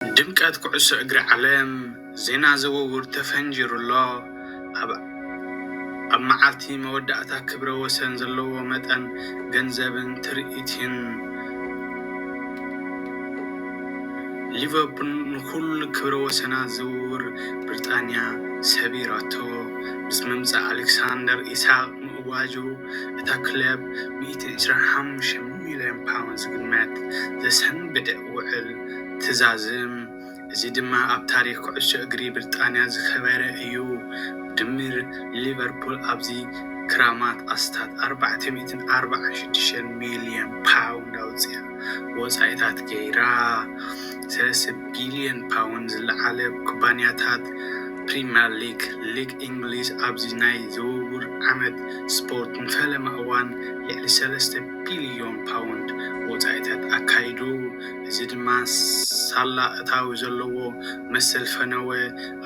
ድምቀት ኩዕሶ እግሪ ዓለም ዜና ዝውውር ተፈንጂሩ ኣሎ። ኣብ ኣብ መዓልቲ መወዳእታ ክብረ ወሰን ዘለዎ መጠን ገንዘብን ትርኢትን ሊቨርፑል ንኹሉ ክብረ ወሰናት ዝውውር ብሪጣንያ ሰቢራቶ። ምስ ምምጻእ ኣሌክሳንደር ኢሳቕ ምእዋጁ እታ ክለብ ሚእትን ዕስራን ሓሙሽተን ሚልዮን ፓውንድ ዝግመት ዘሰንብድ ውዕል ትዛዝም፣ እዚ ድማ ኣብ ታሪኽ ኩዕሶ እግሪ ብርጣንያ ዝከበረ እዩ። ብድምር ሊቨርፑል ኣብዚ ክራማት ኣስታት ኣርባዕተ ሚእትን ኣርብዓን ሽዱሽተን ሚልዮን ፓውንድ ኣውጺኣ ወጻኢታት ገይራ። ሰለስተ ቢልዮን ፓውንድ ዝለዓለ ኩባንያታት ፕሪመር ሊግ፣ ሊግ እንግሊዝ ኣብዚ ናይ ዝውውር ዓመት ስፖርት ንፈለማ እዋን ልዕሊ ሰለስተ ቢልዮን ፓውንድ ወጻኢታት ኣካይዱ፣ እዚ ድማ ሳላ እታዊ ዘለዎ መሰል ፈነወ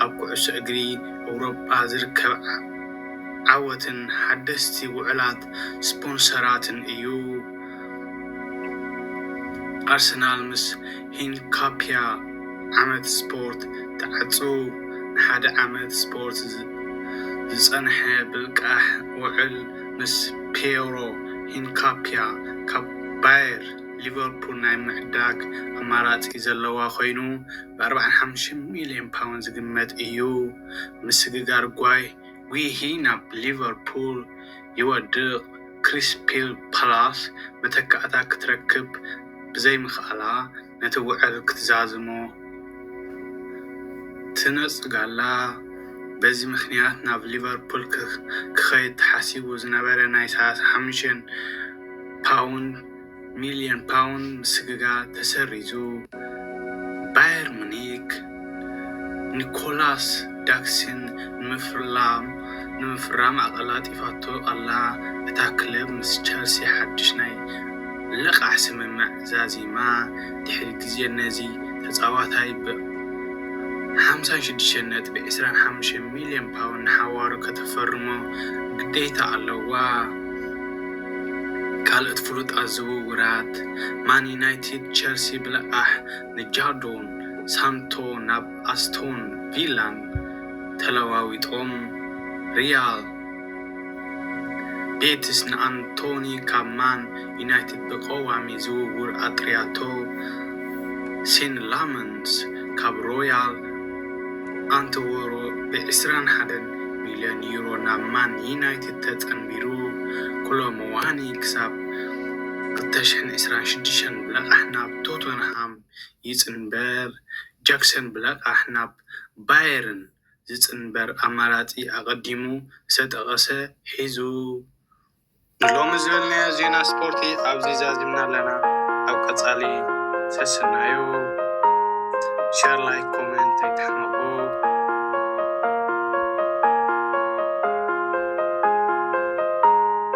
ኣብ ኩዕሶ እግሪ ኤውሮጳ ዝርከብ ዓወትን ሓደስቲ ውዕላት ስፖንሰራትን እዩ። ኣርሰናል ምስ ሂንካፒያ ዓመት ስፖርት ትዓጹ፣ ንሓደ ዓመት ስፖርት ዝጸንሐ ብልቃሕ ውዕል። ምስ ፒየሮ ሂንካፒያ ካብ ባየር ሊቨርፑል ናይ ምዕዳግ ኣማራጺ ዘለዋ ኰይኑ፣ ብ ኣርብዓን ሓሙሽተን ሚልዮን ፓውንድ ዝግመት እዩ። ምስግጋር ጓሂ ናብ ሊቨርፑል ይወድቕ፣ ክሪስፒል ፓላስ መተካእታ ክትረክብ ብዘይምኽኣላ፣ ነቲ ውዕል ክትዛዝሞ ትነጽጋላ። በዚ ምኽንያት ናብ ሊቨርፑል ክኸይድ ተሓሲቡ ዝነበረ ናይ ሰላሳ ሓሙሽተ ሚልዮን ፓውንድ ምስግጋር ተሰሪዙ። ባየር ሙኒክ ኒኮላስ ዳክሲን ንምፍራም ኣቐላጢፋቶ ኣላ። እታ ክለብ ምስ ቸልሲ ሓድሽ ናይ ልቓሕ ስምምዕ ዛዚማ፣ ድሕሪ ግዜ ነዚ ተጻዋታይ ብ ሓምሳን ሽዱሽተን ነጥቢ ዕስራን ሓሙሽተን ሚልዮን ፓውንድ ንሓዋሩ ከተፈርሞ ግዴታ ኣለዋ። ካልኦት ፍሉጣት ዝውውራት ማን ዩናይትድ፣ ቸልሲ ብልቓሕ፣ ንጃዶን ሳንቶ ናብ ኣስቶን ቪላን ተለዋዊጦም፣ ሪያል ቤቲስ ንኣንቶኒ ካብ ማን ዩናይትድ ብቐዋሚ ዝውውር ኣጥርያቶ፣ ሴን ላመንስ ካብ ሮያል ኣንትወሮ ብ ዕስራን ሓደን ሚልዮን ዩሮ ናብ ማን ዩናይትድ ተጸንቢሩ፣ ኮሎ ሙዋኒ ክሳብ ክልተ ሽሕን ዕስራን ሽዱሽተን፣ ብላቃሕ ናብ ቶተንሃም ይጽንበር ጃክሰን ብላቃሕ ናብ ባየርን ዝጽንበር ኣማራጺ ኣቐዲሙ ዝተጠቐሰ ሒዙ። ንሎሚ ዝበልናዮ ዜና ስፖርቲ ኣብዚ ዛዚምና ኣለና ኣብ ቀጻሊ ሰስናዩ ሸር ላይክ ኮመንት ኣይትሕመቁ።